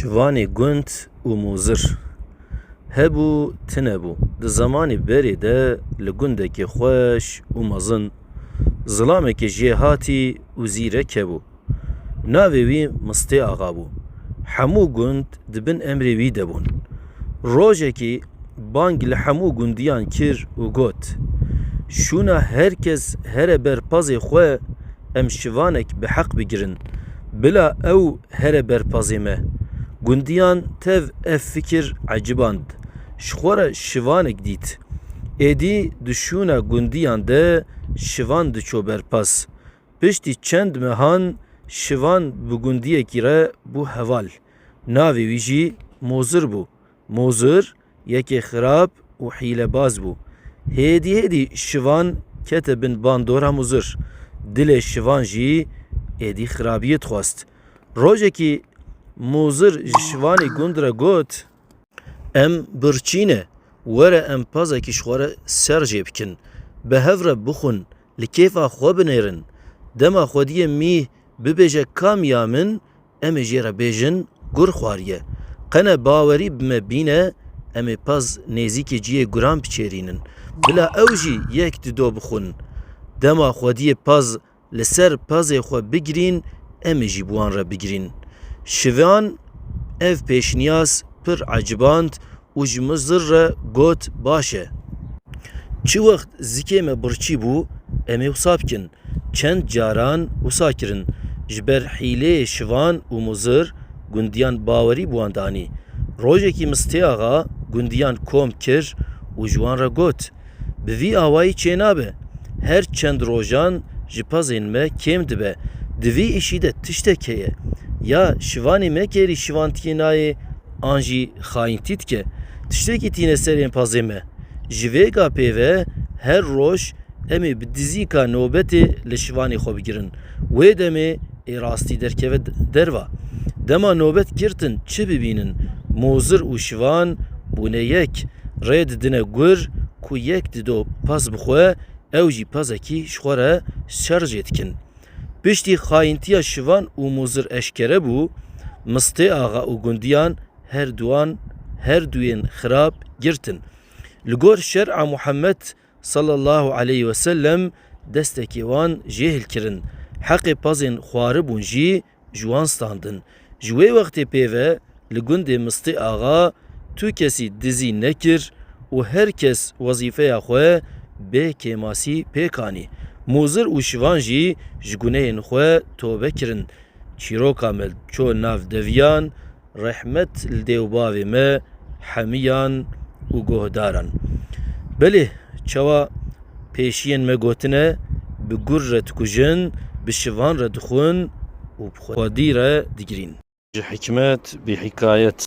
Şivanê gund û mûzir. Hebû tine bû. Di zemanê berê de li gundekê xweş û mezin zilamekê jê hatî û zîrek hebû. Navê wî Mistê Axa bû. Hemû gund di bin emrê wî de bûn. Rojekî bang li hemû gundiyan kir û got, Şûna her kes here ber pazê xwe em şivanek bi heq bigirin, bila ew here ber pazê me. Gundiyan tev ev fikir eciband, ji xwe re şivanek dît. Êdî di şûna gundiyan de şivan diçû ber paz. Piştî çend mehan şivan bi gundiyekî re bû heval. Navê wî jî Mozir bû. Mozir yekê xirab û hîlebaz bû. Hêdî hêdî şivan kete bin bandora Mozir. Dilê şivan jî êdî xirabiyê dixwest. Rojekî Mozir ji şivanê gund re got. Em birçî ne. Were em pazekî ji xwe re ser jê bikin. Bi hev re bixwin, li kêfa xwe binêrin. Dema xwediyê mîh bibêje ka mîya min, Em ê jê re bêjin gur xwariye. Qene bawerî bi me bîne em ê pez nêzîkê ciyê guran biçêrînin. Bila ew jî yek di do bixwin. Dema xwediyê pez li ser pezê xwe bigirîn em ê jî bi wan re bigirîn. Şivan ev pêşniyaz pir eciband û ji min zir re got, Baş e. Çi wext zikê me birçî bû, em ê wisa bikin. Çend caran wisa kirin. Ji ber hîleyê şivan û muzir gundiyan bawerî bi wan danî. Rojekî Mistê Axa gundiyan kom kir û ji wan re got, Bi vî awayî çênabe. Her çend rojan ji pezên me kêm dibe. Di vî îşî de tiştek heye. Ya şivanê me kêrî şivantiyê nayê an jî xayintî dike. Tiştekî tîne serên pezê me. Ji vê ga pê ve her roj em ê bi dizîka nobetê li şivanê xwe bigirin. Wê demê ê rastî derkeve derva. Dema nobet girtin çi bibînin, mozir û şivan bûne yek, rê didine gur ku yek dido pez bi xwe, ew jî pezekî ji xwe re şerjê dikin. Piştî xayintiya şivan û mozir eşkere bû, Mistê axa û gundiyan her duan her duyên xirab girtin. Li gor şer'a Muhammed Sallallahu aleyh ve sellem destekê wan jêhil kirin, heqê pazên xwaribûn jî ji wan standin. Ji wê wextê pêve li gundê Mistê Axa tu kesî dizî nekir û her kes wezîfeya xwe bê kêmasî pêk anî. Mûzir û şivan jî ji gunehên xwe tobe kirin. Çîroka me ço nav deviyan, Rehmet li dê û bavê me hemiyan û guhdaran. Belê çawa pêşiyên me gotine bi gur re dikujin, bi şivan re dixwin û bi xwedî re digirîn. Ji hikmet bî hikayet